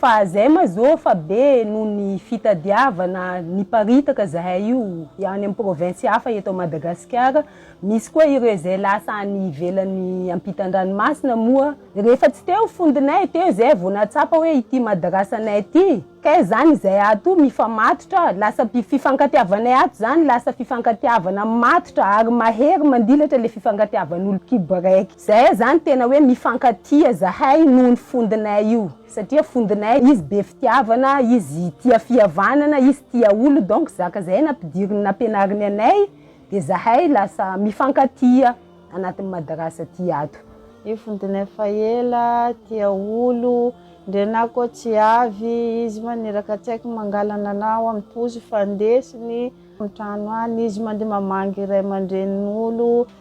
Fa zay ma zo fa be noho ny fitadiavana niparitaka zahay io any amin'ny province hafa eto Madagasikara, misy koa ireo izay lasa any ivelany ampitan-dranomasina moa rehefa tsy teo fondinay teo izay vao nahatsapa hoe ity madrasanay ity kay zany izay ato mifamatotra lasa fifankatiavanay ato zany lasa fifankatiavana matotra ary mahery mandilatra le fifankatiavan'olo-kibo raiky. Zahay zany tena hoe mifankatia zahay noho ny fondinay io satria fondinay izy be fitiavana izy tia fihavanana izy tia olo donc zaka zahay nampidiriny nampianariny anay de zahay lasa mifankatia anatin'ny madarasa ty ato. Io fondinay efa ela tia olo ndre na ko tsy avy izy maniraka tsaiky mangalana anao amin'ny poso fa ndesiny amin'ny trano any izy mandeha mamangy ray aman-drenin'olo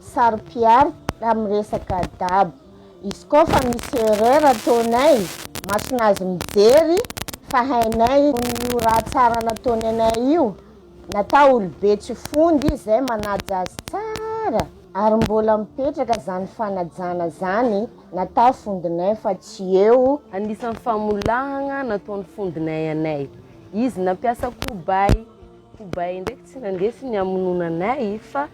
Saropiaro tamin'ny resaka dabo. Izy koa fa misy erreur ataonay, masonazy mijery fa hainay io raha tsara nataony anay io na ta olobe tsy fondy izy zay manaja azy tsara ary mbola mipetraka zany fanajana zany na ta fondinay fa tsy eo Anisan'ny famolahagna nataon'ny fondinay anay. Izy nampiasa kobay. Kobay ndraiky tsy nandesiny hamonoana anay fa.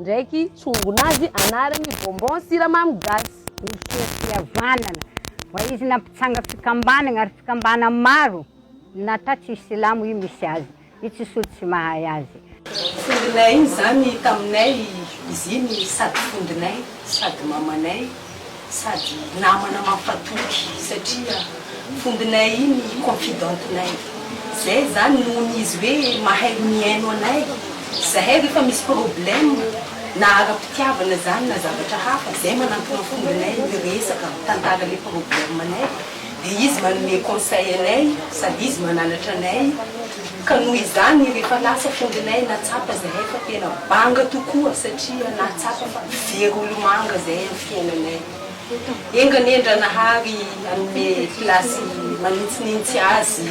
Ndraiky tsongona azy anarany bonbon siramamy gasy. Niseho fihavanana fa izy nampitsanga fikambanagna ary fikambana maro na ta tsisy silamo i misy azy i tsisy olo tsy mahay azy. Fondinay igny zany taminay izy igny sady fondinay sady mamanay. sady namana mampatoky satria vombinay iny confidente nay zay zany nohon izy hoe mahay mihaino anay zahay refa misy problème na ara-pitiavana zany na zavatra hafa zay manantona vombinay miresaka mitantara le problème nay dia izy manome conseil anay sady izy mananatra anay ka noho izany rehefa lasa fondronay nahatsapa zahay fa tena banga tokoa satria nahatsapa fa very olomanga zahay amin'ny fiainanay. Enga anie Andranahary hanome place manintsinintsy azy.